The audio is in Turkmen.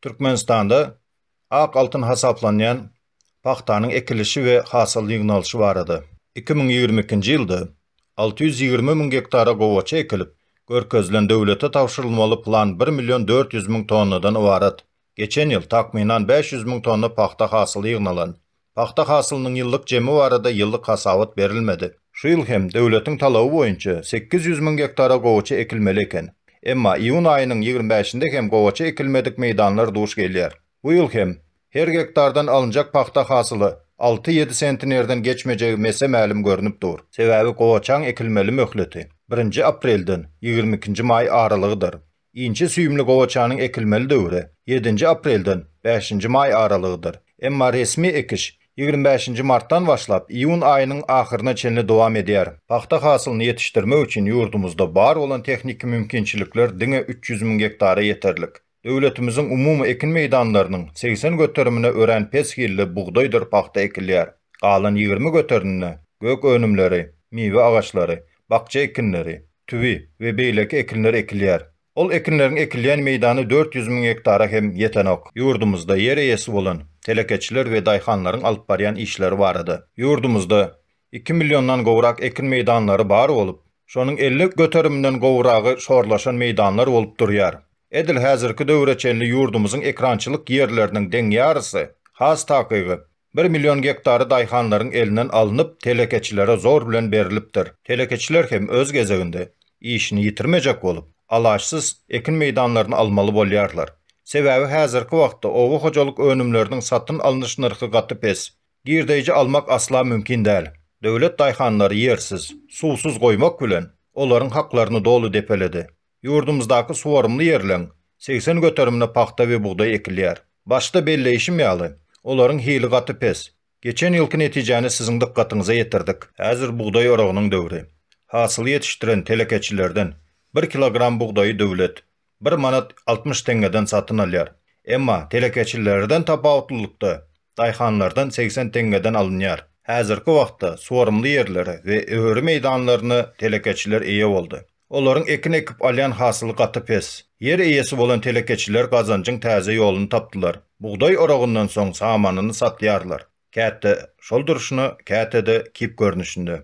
Türkmenistanda ak altyn hasaplanýan pagtanyň ekilişi we hasyl ýygnalyşy barada. Iki müň ýigrimi ikinji ýylda alty ýüz ýigrimi müň gektara gowaça ekilip, görkezilen döwlete tabşyrylmaly plan bir million dört ýüz müň tonnadan ybarat. Geçen ýyl, takmynan, bäş ýüz müň tonna pagta hasyly ýygnalan. Pagta hasylynyň ýyllyk jemi barada ýyllyk hasabat berilmedi. Şu ýyl hem döwletiň talaby boýunça sekiz ýüz müň gektara gowaça ekilmeli eken. Emma iýun aýynyň ýigrimi bäşinde hem gowaça ekilmedik meýdanlar duş gelýär. Bu ýyl hem her gektardan alynjak pagta hasyly alty-ýedi sentinerden geçmejegi mese mälim görnüp dur. Sebäbi gowaçaň ekilmeli möhleti birinji aprelden ýigrimi ikinji maý aralygydyr. Inçe süýümli gowaçanyň ekilmeli döwri ýedinji aprelden bäşinji maý aralygydyr. Emma resmi ekiş ýigrimi bäşinji martdan başlap, iýun aýynyň ahyryna çenli dowam edýär. Pagta hasylyny ýetişdirmek üçin ýurdumyzda bar bolan tehniki mümkinçilikler diňe üç ýüz müň gektara ýeterlik. Döwletimiziň umumy ekin meýdanlarynyň segsen göterimine örän pes hilli bugdaýdyr pagta ekilýär. Galan ýigrimi göterimine gök önümleri, miwe agaçlary, bakja ekinleri, tüwi we beýleki ekinler ekilýär. Ol ekinleriň ekilýän meýdany dört ýüz müň gektara hem ýetenok. Ýurdumyzda ýer eýesi bolan telekeçiler we daýhanlaryň alyp barýan işleri barada. Ýurdumyzda iki milliondan gowrak ekin meýdanlary bar bolup, şonuň elli göteriminden gowragy şorlaşan meýdanlar bolup durýar. Edil häzirki döwre çenli ýurdumyzyň ekrançylyk ýerleriniň deň ýarysy, has takygy, Bir million gektary daýhanlaryň elinden alnyp, telekeçilere zor bilen berilipdir. Telekeçiler hem öz gezeginde, işini ýitirmejek bolup, alaçsyz ekin meýdanlaryny almaly bolýarlar. Sebäbi häzirki wagtda oba hojalyk önümleriniň satyn alnyş nyrhy gaty pes. Girdeýji almak asla mümkin däl. Döwlet daýhanlary ýersiz, suwsuz goýmak bilen, olaryň haklaryny doly depeledi. Ýurdumyzdaky suwarymly ýerleň segsen göterimine pagta we bugdaý ekilýär. Başda belleýşim ýaly, olaryň hili gaty pes. Geçen ýylky netijäni siziň dykgatyňyza ýetirdik. Häzir bugdaý oragynyň döwri. Hasyly ýetişdiren telekeçilerden bir kilogram bugdaýy döwlet bir manat altmyş teňňeden satyn alýar. Emma telekeçilerden tapawutlylykda daýhanlardan segsen teňňeden alynýar. Häzirki wagtda suwarymly ýerlere we öri meýdanlaryna telekeçiler eýe boldy. Olaryň ekin ekip alýan hasyly gaty pes. Ýer eýesi bolan telekeçiler gazanjyň täze ýoluny tapdylar. Bugdaý oragyndan soň samanyny satýarlar. Käte şol durşuna, käte-de kip görnüşinde.